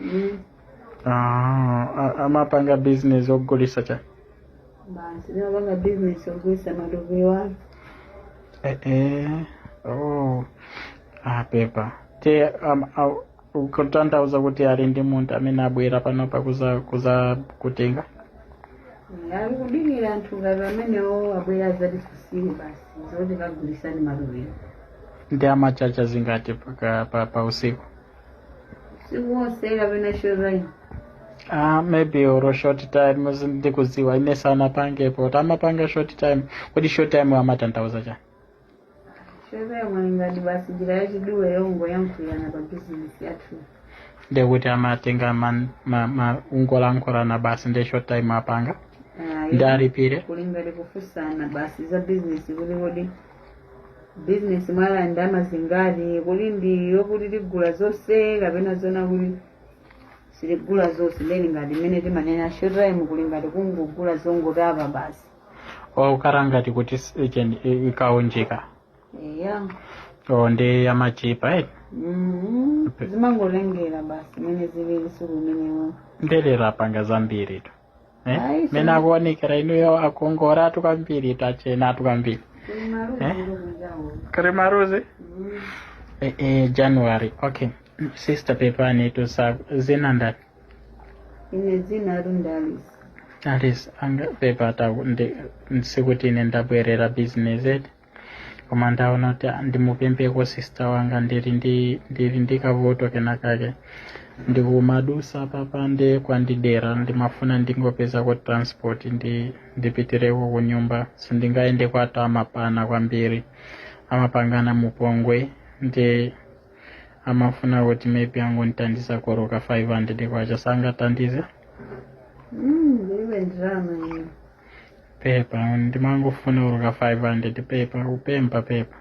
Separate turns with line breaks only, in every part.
Mm. Ah, a- amapanga business ogulisa cha
basi ndimapanga business yogulisa matako wanu eh, eh. Oh.
Ah, pepa te am- au- ukutanthauza kuti ali ndi munthu amene abwera panopa kuza kuza
kutenga ali kudikira anthu ngati amenewo abwera azatisiye basi zoti kagulisani matako nde
amachaja zingati pa, pa, pa usiku
usiku wonse kapena short time Ah, maybe olo
short time sindikuziwa ine sanapangepotu amapanga short time kodi short time amatanthauza chani
short time kuli ngati basi njira yachidule yongoyankhulirana pa bizinesi yathu
ndekuti amatenga man- ma- ma- ungolankhulana basi nde short time apanga Ah, nde alipire kuli
ngati kufusana basi za bizinesi kuti kodi bizinesi mwala ndalama zingati kuti ndi yokuti tigula zonse kapena zona kuti sitigula zonse nde ngati mmene timanena short time kuli ngati kungogula zongotapa basi
okhala ngati kuti s- icheni- i- kaunjika eya o ndi yamachipa eti Mhm. zimangotengera
basi mmene zilili siku limenelo nde lero apanga
zambiritu eh? Ayi, mmene akuonekera inuyo akongolatu kwambiri atchenatu kwambiri Eh? kuli maluzi eh, eh, january okay sister pepani tusa zina ndani
ine zina langa ndi Alice
Alice wanga pepatu ndi- sikuti ine ndabwerera business eti koma ndaona kuti ah, ndimupempheko sister wanga ndili ndi ndili ndi kavuto kenakake ndikumadusa papande kwandidera ndimafuna ndingopezako transport ndipitireko ku nyumba sindingayende kwathu amaphana kwambiri amapangana mupongwe nde amafuna kuti maybe angondithandizako olo ka 500 kwacha sangathandize
Mm, iwe ndalama ine
pepa ndimangofuna olo ka 500 pepa kupempha pepa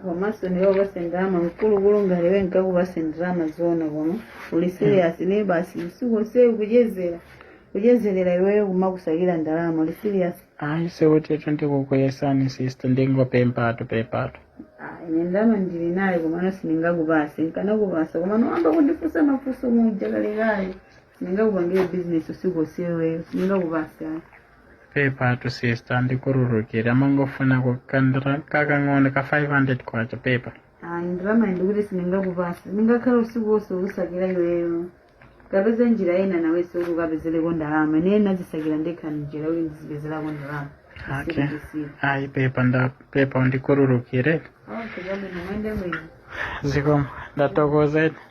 komanso ndikupase ndalama mkulukulu ngati iwe nkakupase ndalama zona koma uli serious ine basi usiku onse kuchezera kuchezerera iweyo kumakusakira ndalama uli serious ayi
sikutitu ndikukuyesani sister ndikungopemphatu pepatu Ah, ine ndalama
ndili nayo komano sindingakupase nkanakupasa komano wayamba kundifunsa mafunso muja kalekale sindingakupangire bizinesi usiku onse iweyo sindingakupase
pepatu sister undikhululukire ndimangofunako kandalama kakang'ono ka 500 kwacha pepa ayi ndalama ndikuti
sindingakupase ndingakhala usiku wonse kukusakira iweyo kapeze njira ina nawenso kuti ukapezereko ndalama ine ndinazisakira ndekha njira kuti ndizipezerako ndalama
okay ayi pepa nda pepa undikhululukire
okay chabwino muyende bwino zikomo
ndathokoza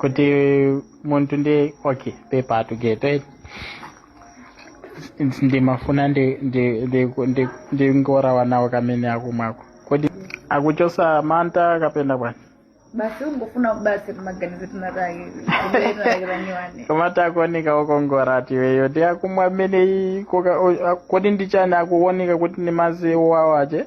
kuti muntu ndi okay pepatu Geto eti ndimafuna ndi- ndi- ndi- ndi- ndingolawa nawo kamene akumwako kodi akuchotsa mantha kapena bwana basi
ungofuna basi maganizo
tunataki kubeerakiraniwane kamati akuoneka okongora ati iweyo ndi akumwa ameneyi koka- o- a- kodi ndi chani akuoneka kuti ndi madzi owawa ache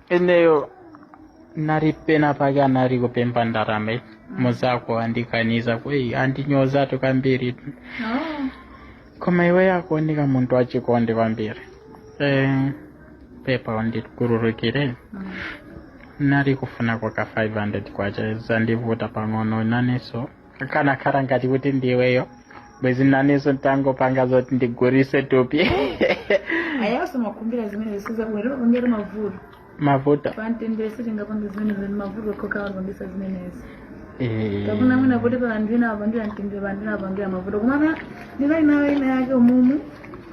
ineyo nali pena pake anali kupempha ndalama mzako wandikaniza kweni wandinyozatu kambiri tu Oh. koma iweyo akuoneka munthu wachikondi kwambiri eh, pepa undikhululukire Mm. nali kufuna kwa ka 500 kwacha zandivuta pang'ono nanenso akanakhala ngati kuti ndiweyo bwezi nanenso ndikungopanga zoti ndigulitse thupi ayawose
makumbira zimene sizabwino pangira mavuto mavuto pamtendere sitingapange zimenezi zimene mavuto okhaokha amapangitsa zimenezi Eh, kapena mwina kuti pa anthu ena apangira mtendere pa anthu ena apangira mavuto komana ndinali nayo ina yake umumu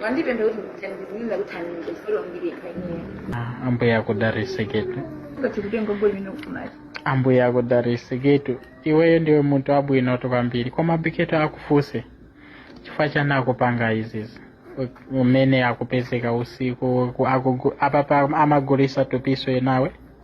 Mandipemphe kuti ndithandizire kuti
andipemphe chifukwa ndiri
paineyo. ambuye akudalitse
Geto Kuti kutenga ngoli mino kumazi. ambuye akudalitse Geto iweyo ndiwe munthu wabwinotu kwambiri koma bi Geto akufunse chifukwa chani akupanga izizi U- umene akupezeka usiku ku- akugu- apapa amagulitsa thupinso nawe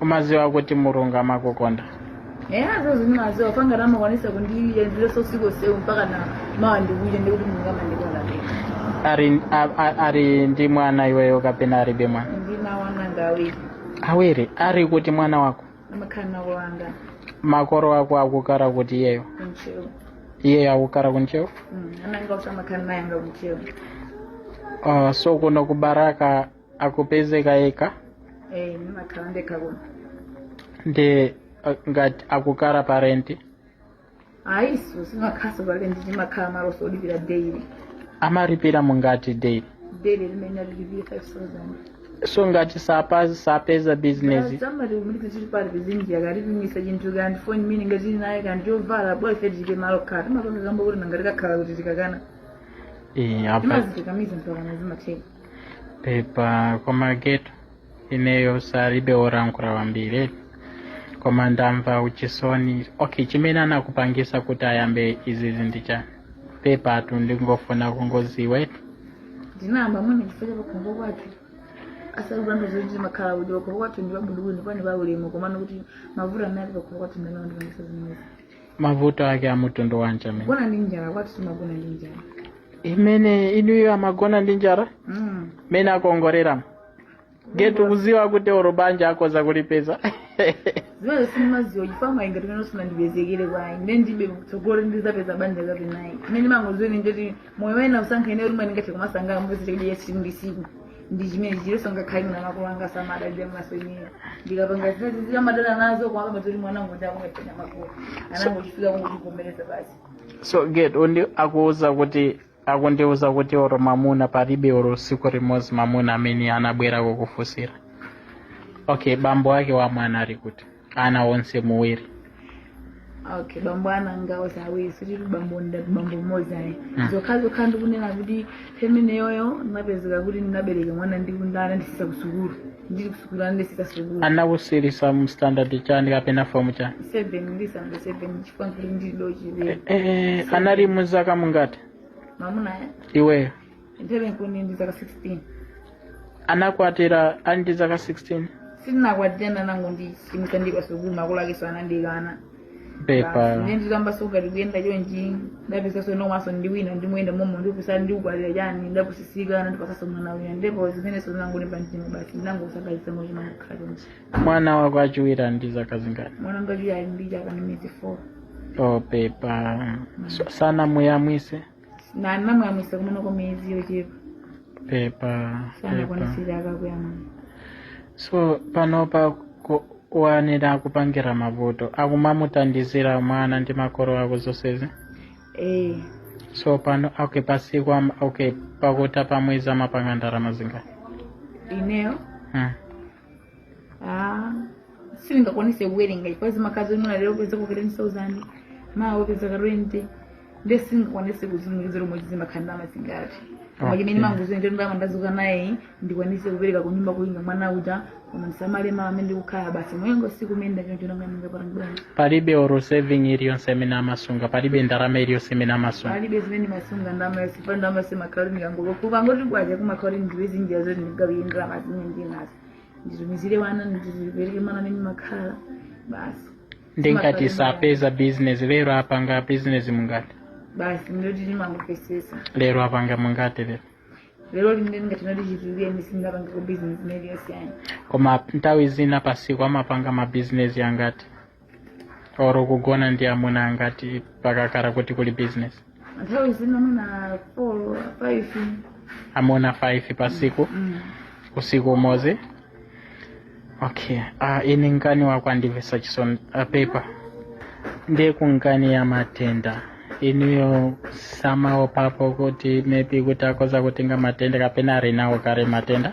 umadziwa kuti mulungu amakukonda eya
zonse ndimadziwa panja amakwanitsa kundiyendetsa usiku msewu mpakana mawa ndikuja ndikuti mulungu amandikonda ali, a- a- ali ndi mwana
iweyo kapena alibe mwana ndi ana anga ndi
awiri
awiri ali kuti mwana wako amakhala kwa makolo
anga makolo
ako akukhala kuti iyeyo ku Ntcheu iyeyo akukhala ku Ntcheu ana anga
sindimakhala nawo anga ku Ntcheu
uh, so kuno ku Balaka akupezeka yekha eh
ndimakhala ndekha kuno
ndi eh, ngati akukhala pa
rent ayinso sitimakhalanso pa rent timakhala maloso olipira daily amalipira
zingati daily daily limene
amalipira 5000 so
ngati sapeza sapeza bizinesi samati kumulipira
chili pali pizinjira akatipinyitsa chinthu kaya ndi foni mwina ngati uli nayo kaya ndi chovala bwa ife tilibe malo okhala timapanga kamba kuti nanga tikakhala kuti tikakana eh,
apa timazikakamiza mpakana
zimatheka
pepa koma Geto ineyo alibe olankhula wambiri koma ndamva uchisoni okay chimene anakupangitsa kuti ayambe izizi ndi cha pepatu ndingofuna kungodziwa
ndinayamba mwina chifukwa cha pakhomo kwathu osati kulanda zoti timakhala udyo pakhomo kwathu ndi pabwinobwino ndi paulemu komano kuti mavuto amene ali pakhomo kwathu ndi amene andipangitsa zimenezi mavuto
ake a mtundu wanji amene akugona ndi njala kwathu
timagona ndi njala
imene ena iwo amagona ndi njala Mm. mene akongolera getu kuziwa kuti oro banja akoza kulipeza
zimene simumaziwa chifukwa ngati mene usinandipezekere mwayi ine ndibe kutsogolo ndizapeza banja kapena ayi chimene ndimangoziwa ine ndoti moyo wene ndasankha ine ulimwe ndingathe kumasangala mupezete kuti yesi ndi siku ndi chimenechi eeso ngakhale makolo anga samadalira naso ine ndikapanga zimenezi amadana nazo koma zoti mwana wangu ndi wakulemphera makolo anangochifika kungochivomereza basi so get
undi akuuza kuti akundiuza kuti oro mamuna palibe oro tsiku limodzi mamuna amene anabwera kukufunsira okay bambo wake wa mwana ali kuti ana onse awiri
okay bambo ana anga onse awiri si bambo mmodzi ayi Mm. zokha zokha ndikunena kuti first-born iyeyo ndinapezeka kuti ndinabereka mwana ndi munthu anandisiisa sukulu ndili kusukulu anandisiisa sukulu anakusiyisa
mu standard chani kapena fomu chani seven
ndisanafike seven chifukwa kuti ndili dochilera Eh,
eh,
anali ndi
zaka zingati mamuna
iweyo Nthawiyo nkuli ndi zaka 16.
anakwatira ali ndi zaka 16
Sitinakwatirana anangondisiyitsa ndi pasukulu makolo akenso anandikana. pepa
Nde nditayambaso
kuyenda chonchi ndapezaso mamunaso wina ndimayenda momo ndikupusitsa ndikukwatira chani ndapusisika anandipasaso mwana wina ndipo zimenezo ndinangolimba mtima basi ndinangosakaiza nangoti ndimangokhala chonchi. mwana wako wachiwiri
ali ndi zaka zingati Mwana wanga wachiwiri ali ndi
chaka ndi miyezi 4. oh pepa
sanamuyamwise ndinamuyamwisa
kumene kwa miyezi yochepa pepa
pepa sanakwanise
chaka akuyamwa so
panopa pa- mwanayo akupangira mavuto akumamuthandizira mwana ndi makolo ako zonsezi ee so pano okay pasiku am- okay pakutha pamwezi amapanga ndalama zingati ineyo
hmm. Ah, sindingakwanise kuwerenga chifukwa zimakhala zoti mwina lero kupeza ka 10000 mawa kupeza ka 20 nde sindingakwanise kutsimikizira momwe zimakhalira ndalama zingati koma Okay. chimene ndimangoziwa ndi ndalama ndazuka nayo ndikwanise kupereka ku nyumba kuli mwana uja koma ndisamale mwana amene ndikukhala basi mwina tsiku limayenda choncho nanga ndingapange bwanji palibe
oro saving iliyonse imene amasunga palibe ndalama iliyonse imene amasunga palibe imene ndimasunga
ndalama sipa ndalama simakhala ndikangokumva kuti kwacha kumakhala ndipeze njira zoti ndigawire ndalama zimene ndinazo nditumizire wana ndipereke mwana amene ndimakhala basi nde
ngati sapeza business lero apanga business zingati basi ndoti
ndimangopesesa lero
apanga zingati lero lero
limene ndingati ndichituluke sindinapangeko business iliyonse ayi koma nthawi
zina pasiku amapanga mabizinesi angati oro kugona ndi amuna angati pakakhala kuti kuli business nthawi
zina mwina 4 5 amuna
5 pa siku mm. usiku umodzi okay uh, ini nkani yako yandimvesa chisoni uh, pepa ndiye kunkani ya matenda iwowo samaopapo kuti maybe kuti akoza kutenga matenda kapena ari nawo kare matenda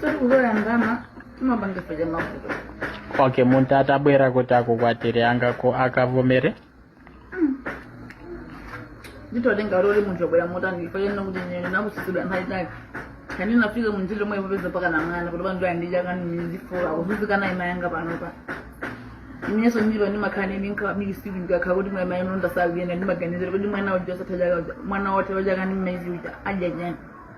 soti kuzolowera ndalama timapangira mavuto okay
muntu atabwera kuti akukwatire angako akavomere
nditotenga lori munthu obwera motani ndifanena kuti nene nazuzisidwa nthawi itali kani nafika munjira omwe popeza paka na mwana kuti bantu andija kani ndifuna kuzuzika mayi anga panopa ineso ndiro ndimakhala ninga masiku ndikakha kuti mwana mayi nonda saliyenda ndimaganizira kuti mwana uja sathaja mwana wote waja kani mmezi uja aja jani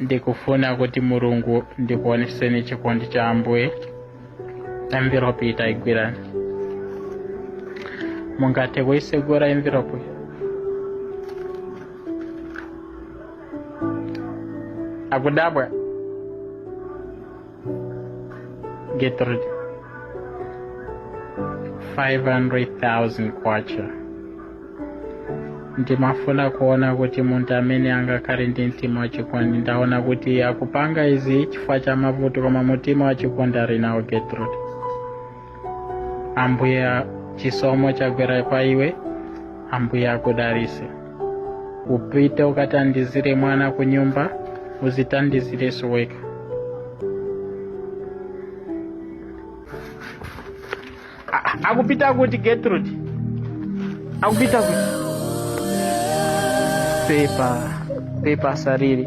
ndikufuna kuti Mulungu ndikuoneseni chikondi cha ambuye envelope itayigwirani mungathe kuyisegula envelope akudabwa Gertrude 500,000 kwacha ndimafuna kuona kuti munthu amene angakhale ndi mtima wachikondi ndaona kuti akupanga izi chifukwa cha mavuto koma mutima wachikondi ali nawo Gertrude ambuye chisomo chagwera pa iwe ambuye akudalise upite ukatandizire mwana ku nyumba uzitandizireso wekha A- akupita kuti Gertrude akupita kuti pepa pepa salira